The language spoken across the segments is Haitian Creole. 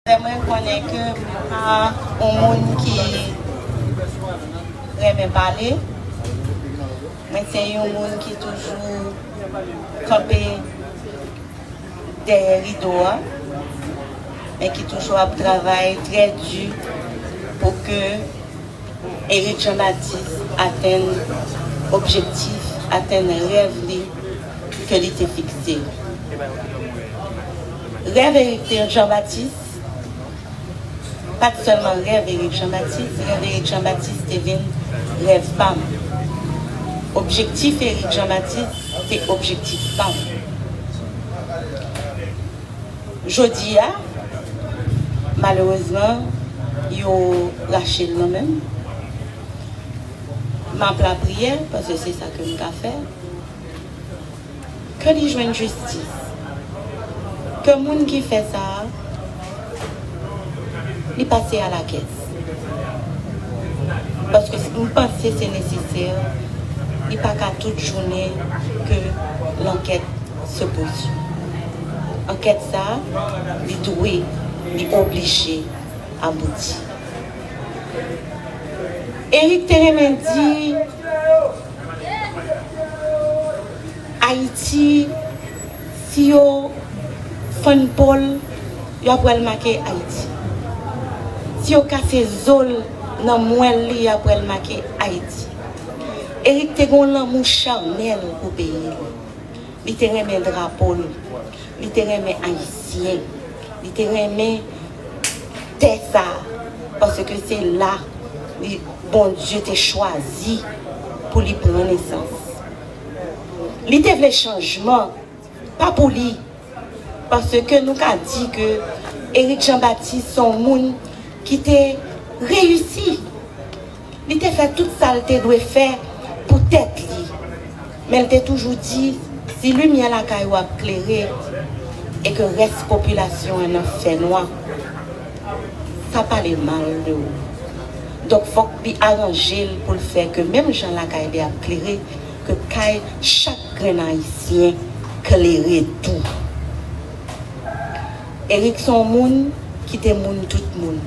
Lè mwen konnen ke m pa yon moun ki renmen pale, mwen se yon moun ki toujou kanpe dèyè rido a, men ki toujou ap travay trè di pou ke Eric Jean Baptiste atenn objektif, atenn rèv li ke li te fikse. Rèv Eric Jean Baptiste pa t sèlman rèv Eric Jean Baptiste, rèv Eric Jean Baptiste te vin rèv pa m. Objektif Eric Jean Baptiste te objektif pa m. Jodi a, malerezman, yo rache l nan men m. M ap lapriyè, paske se sa ke m ka fè, ke li jwenn jistis. Ke moun ki fè sa a, li pase alakès. Paske m panse se nesesè, li pa ka tout jounen ke lankèt. Sopotu. Ankèt sa a, li dwe, li oblije abouti. Eric te renmen di, Ayiti, si yo fann po l, yo ap wè l make Ayiti. Si yo kase zo l nan mwèl li, yo ap wè l make Ayiti. Eric te gen yon lanmou chanèl pou peyi li. Li te renmen drapo l. Li te renmen Ayisyen. Li te renmen tè sa a paske se la Bondye te chwazi pou li pran nesans. Li te vle chanjman, pa pou li. Paske nou ka di ke Éric Jean Baptiste se yon moun ki te reyisi. Li te fè tout sa l te dwe fè pou tèt li. Men l te toujou di, si limyè lakay ou ap klere e ke rès popilasyon an nan fènwa, sa pale mal de ou. Donk fòk li aranje l pou l fè ke menm jan lakay li ap klere, Ke kay chak grenn ayisyen klere tou. Eric son moun ki te moun tout moun.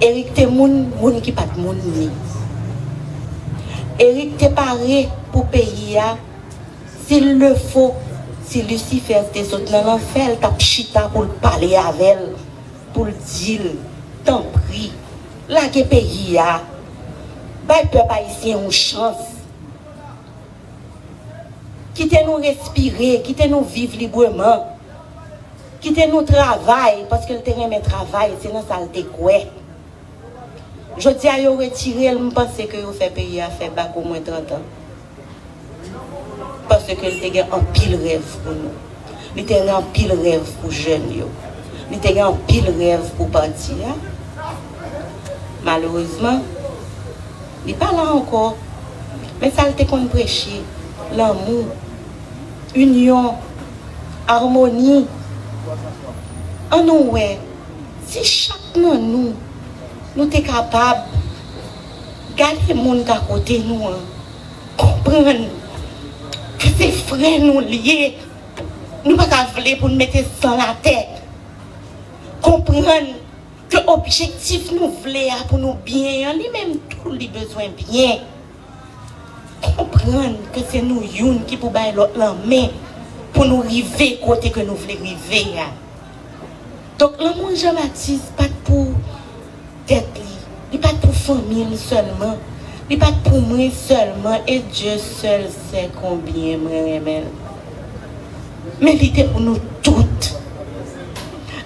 Eric te moun moun ki pat moun ni. Eric te pare pou peyi a sil le fo si Lucifer te sot nan lanfè l tap chita poul pale avèl poul dil tanpri Lage peyi a. Bay pèp ayisyen yon chans. Kite nou respire, kite nou viv libreman. Kite nou travay, paske l te renmen travay, se nan sa l te kwè. Jodi a yo retire l, m panse ke yo fè peyi a fè bak omwen 30 an. Paske li te gen anpil rèv pou nou. Li te gen anpil rèv pou jèn yo. Li te gen anpil rèv pou pati a. Malerezman, li pa la ankò. Men sa li te konn preche, lanmou, inyon, amoni. An nou wè, si chak nan nou, nou te kapab. Gade moun ka kote nou an konprann ke se frè nou li ye, nou pa ka vle pou nou mete san l atè, konprann ke objektif nou vle a pou nou byen an li menm tou li bezwen byen, konprann ke se nou youn ki pou bay lòt lan men pou nou rive kote ke nou vle rive a. Donk lanmou Jean Baptiste pa t pou. Tèt li. Li pat pou fanmil sèlman. Li pat pou mwen sèlman e Dye sèl sè konbyen mwen renmenl. Men li te pou nou tout.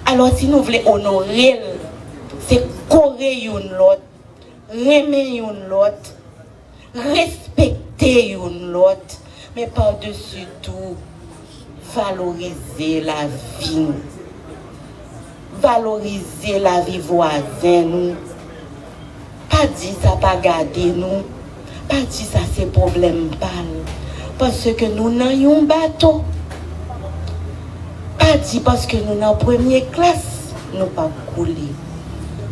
Alò si nou vle onorel se kore youn lòt, renmen youn lòt, respekte youn lòt, men padesi tou, valorize lavi nou. Valorize lavi vwazen nou. Pa di sa pa gade nou, pa di sa se pwoblèm pa l, paske nou nan youn bato. Pa di paske nou nan premye klas, nou p ap koule.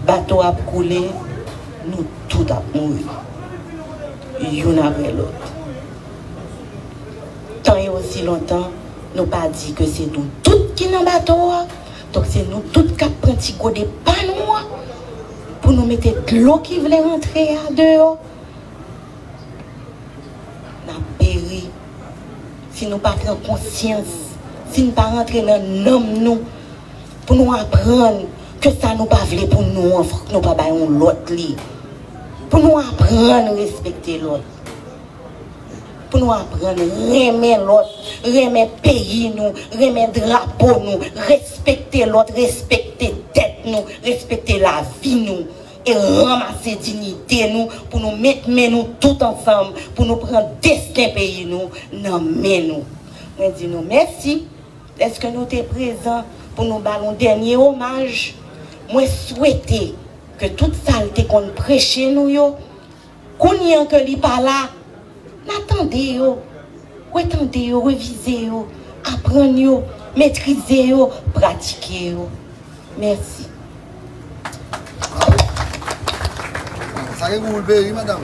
Bato ap koule. Nou tout ap mouri youn aprè lòt. Tan e osi lontan nou pa di ke se nou tout ki nan bato a, donk se nou tout k ap pran ti gode pa nou an pou nou mete dlo ki vle rantre a deyò. N ap peri si nou pa pran konsyans, si n pa rantre nan nanm nou. Pou nou aprann ke sa nou pa vle pou nou an fòk nou pa bay yon lòt li. Pou nou aprann respekte lòt. Pou nou aprann renmen lòt, renmen peyi nou, renmen drapo nou, respekte lòt, respekte tèt nou, respekte lavi nou e ranmase dignite nou pou nou met men nou tout ansanm pou nou pran desten peyi nou nan men nou. Mwen di nou mèsi. Eske nou te prezan pou nou ba l yon dènye omaj? Mwen swete ke tout sa l te konn preche nou yo, kounye an ke li pa la, n a tande yo, retande yo, revize yo, aprann yo, metrize yo, pratike yo. Mèsi. Bravo. Sa gen gou pou l peye wi madam.